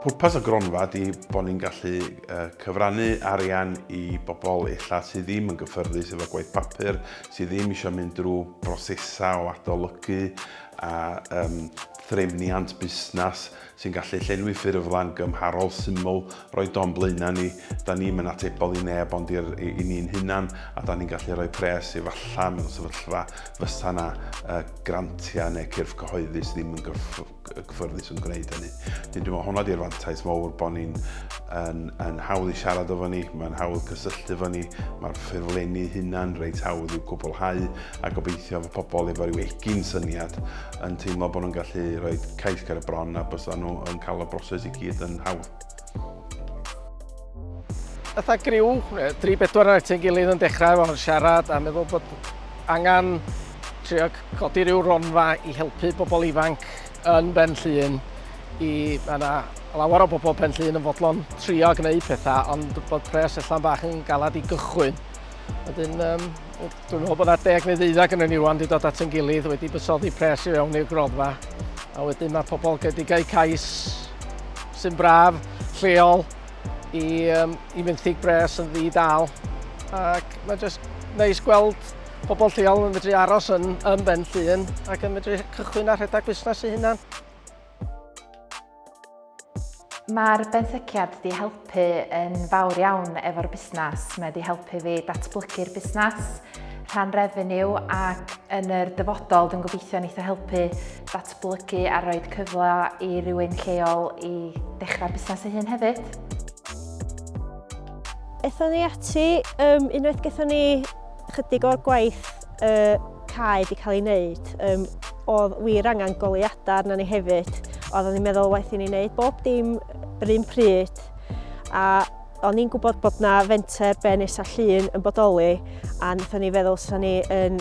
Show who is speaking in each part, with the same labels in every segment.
Speaker 1: Pwrpas y gronfa ydy bod ni'n gallu cyfrannu arian i bobl illa sydd ddim yn gyffyrddus efo gwaith papur, sydd ddim eisiau mynd drwy brosesau o adolygu a um, threfniant busnes sy'n gallu llenwi ffurflen gymharol syml, roi don blaenau ni, da ni'm yn atebol i neb ond i'r, i, i ni'n hunan, a da ni'n gallu rhoi pres efallai mewn sefyllfa fysa 'na yy grantiau neu cyrff cyhoeddus ddim yn gyff, gyffyrddus yn gwneud hynny. Wedyn dwi'n meddwl hwnna di'r fantais mowr bod ni'n yn, yn hawdd i siarad efo ni, mae'n hawdd cysylltu efo ni, mae'r ffurflenni hunan reit hawdd i'w cwblhau a gobeithio efo pobl efo rhyw egin syniad yn teimlo bod nhw'n gallu rhoi cais ger y bron a bys nhw yn cael y broses i gyd yn hawdd.
Speaker 2: Ytha griw, 3-4 ar ti'n gilydd yn dechrau fo'n siarad a meddwl bod angen trio codi rhyw ronfa i helpu bobl ifanc yn Ben Llun i yna lawer o bobl Ben Llun yn fodlon trio gwneud pethau ond bod pres allan bach yn galad i gychwyn. Wedyn, um, dwi'n meddwl bod yna deg neu ddeuddag yn ni rwan wedi dod at yn gilydd, wedi bysoddi pres i fewn i'r gronfa. A wedyn mae pobl gedigau cais sy'n braf, lleol, i, um, i fenthyg bres yn ddi dal. Ac mae jyst neis gweld pobl lleol yn medru aros yn, yn Ben Llun ac yn medru cychwyn ar rhedeg busnes i hunan.
Speaker 3: Mae'r benthyciad wedi helpu yn fawr iawn efo'r busnes. Mae wedi helpu fi datblygu'r busnes, rhan refeniw ac yn yr dyfodol dwi'n gobeithio neitho helpu datblygu a rhoi cyfle i rywun lleol i dechrau busnes ei hun hefyd.
Speaker 4: Ethon ni ati um, unwaith gethon ni chydig o'r gwaith y cae wedi cael ei wneud, um, oedd wir angen goleuadau arna ni hefyd. Oeddwn i'n meddwl waith i ni wneud bob dim yr un pryd a o'n i'n gwybod bod na fenter Benis a Llun yn bodoli a wnaethon ni feddwl sy'n ni yn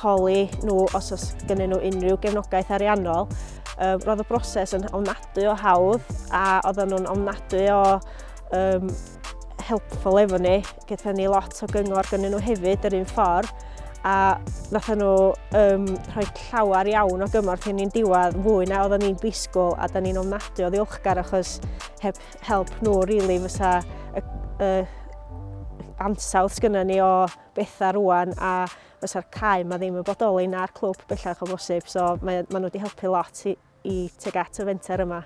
Speaker 4: holi nhw os oes gen nhw unrhyw gefnogaeth ariannol. Um, roedd y broses yn ofnadwy o hawdd a oedden nhw'n ofnadwy o um, helpful efo ni. Gyda ni lot o gyngor gynnyn nhw hefyd yr un ffordd a nath nhw um, rhoi llawer iawn o gymorth i ni'n diwedd fwy na oedden ni'n disgwyl a da ni'n ofnadwy o ddiolchgar achos heb help nhw rili really, fysa y, y ansawdd sgynna ni o bethau rwan a fysa'r cae mae ddim yn bodoli na'r clwb bellach o bosib so mae, mae nhw wedi helpu lot i, i teg at y fenter yma.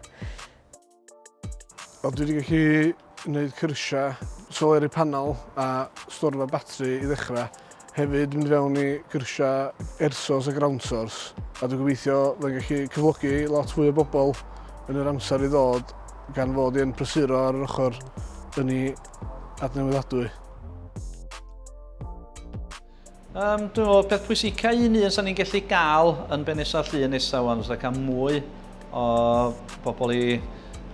Speaker 4: Wel,
Speaker 5: dwi wedi gallu gwneud cyrsiau soleri panel a storfa batri i ddechrau. Hefyd mynd fewn i gyrsiau ersos a ground source. A dwi'n gobeithio fe'n gallu cyflogi lot fwy o bobl yn yr amser i ddod gan fod i'n prysuro ar yr ochr yn ei adnewyddadwy.
Speaker 6: Um, dwi'n meddwl, peth pwysica un un sa'n ni'n gallu gael yn Benesa Llun nesaf wan, os cael mwy o bobl i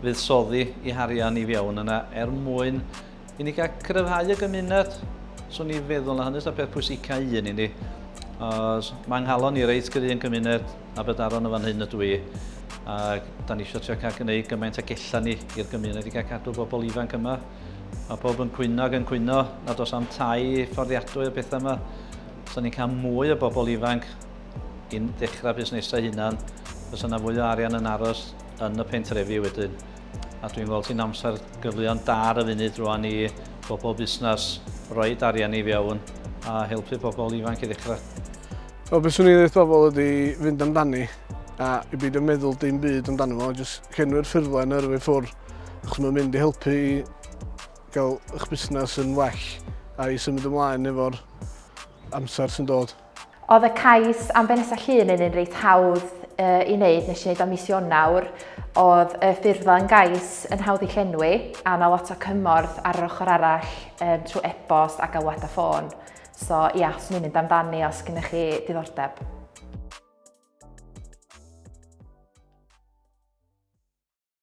Speaker 6: fuddsoddi i harian i fiewn yna er mwyn i ni gael cryfhau y gymuned. Swn ni feddwl na hynny'n peth pwysica un i ni. Os mae nghalon ni reit gry yn cymuned a bydaron yn fan hyn ydw i. Ac da ni eisiau trio cael gwneud gymaint ag ella ni i'r gymuned i gael cadw bobl ifanc yma. Mae pob yn cwyno ac yn cwyno nad oes am tai fforddiadwy y pethau yma. Os ni'n cael mwy o bobl ifanc i'n dechrau busnesau hunan, os yna fwy o arian yn aros yn y pentrefi wedyn. A dwi'n gweld sy'n amser gyfleon da ar y funud rwan i bobl busnes roi arian i fewn a helpu pobl ifanc i ddechrau. O beth swn
Speaker 5: i'n dweud pobl ydy fynd amdani a i beidio meddwl dim byd amdano fo, jyst llenwi'r ffurflen yrfa i ffwrdd. Achos mae'n mynd i helpu i gael eich busnes yn well a i symud ymlaen efo'r amser sy'n dod. Oedd y cais
Speaker 3: am benesa llun yn un reit hawdd uh, i wneud, nes i wneud am mis Ionawr. Oedd y ffurflen yn gais yn hawdd i llenwi, a na lot o cymorth ar yr ochr arall um, trwy e-bost a galwad a ffôn. So ia, yeah, swn i'n mynd amdani os gennych chi diddordeb.